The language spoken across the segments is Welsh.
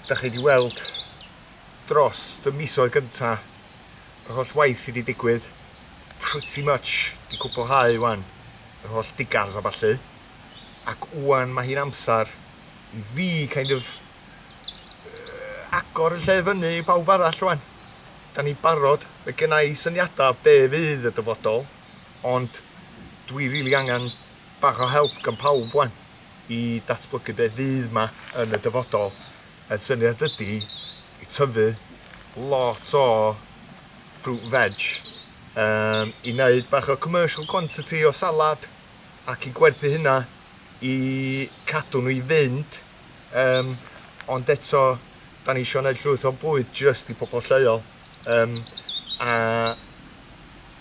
da chi wedi weld dros y misoedd gynta, yr holl waith sydd wedi digwydd, pretty much wedi cwblhau wan, yr holl digars a ballu, ac wan mae hi'n amser i fi kind of agor y lle i fyny i bawb arall wan. Da ni'n barod, mae genna i syniadau be fydd y dyfodol, ond dwi rili angen bach o help gan pawb wan. i ddatblygu be fydd 'ma yn y dyfodol. A'r syniad ydi i tyfu lot o fruit veg um, i wneud bach o commercial quantity o salad ac i gwerthu hynna i cadw nhw i fynd um, ond eto da ni eisiau gwneud llwyth o bwyd jyst i pobl lleol um, a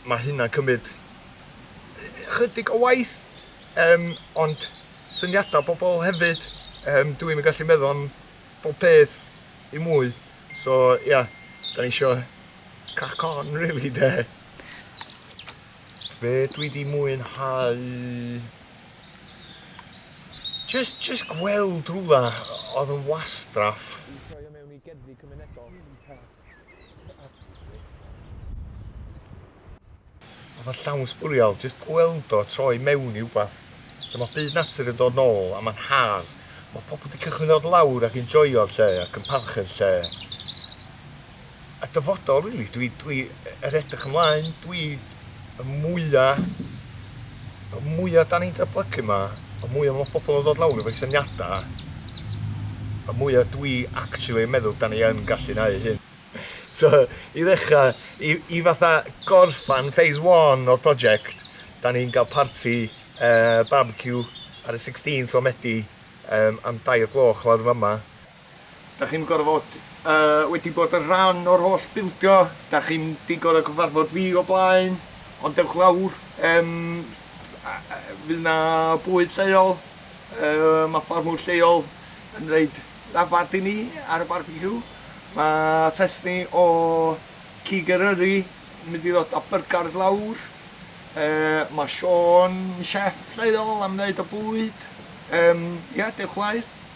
mae hynna'n cymryd chydig o waith Yym, ond syniadau pobl hefyd. Yym, dw i'm yn gallu meddwl am bob peth i mwy. So, ia, da ni isio crack on rili, de. Be dwi wedi mwynhau? Jyst, jyst gweld rhywle oedd yn wastraff. Oedd o'n llawn sbwriel, jyst gweld o troi mewn i wbath. So mae byd natur yn dod nôl a mae'n haf. Mae pobl wedi cychwyn dod lawr ac yn joio'r lle ac yn parchu'r lle. A dyfodol, really, dwi, dwi er edrych ymlaen, dwi y mwya, y mwya 'dan ni'n datblygu 'ma, y mwya ma' pobl yn ddod lawr efo'u syniada, y mwya dwi actually yn meddwl 'dan ni yn gallu neu' hyn. So, i ddechra, i i fatha gorffan phase one o'r project, 'dan ni'n ga'l parti yy barbeciw ar y sixteenth o Medi yym am dau o gloch lawr yn fama. Dach chi'n gorfod yy wedi bod yn rhan o'r holl bildio, dach chi'm 'di gor'o' cyfarfod fi o blaen, ond dewch lawr, yym a- a- fydd 'na bwyd lleol, yy ma' ffarmwr lleol yn roid lafant i ni ar y barbeciw, ma' testni o Cig Eryri yn mynd i ddod â byrgars lawr, yy ma' Siôn yn chef lleol am neud y bwyd, yym ia, dewch lawr.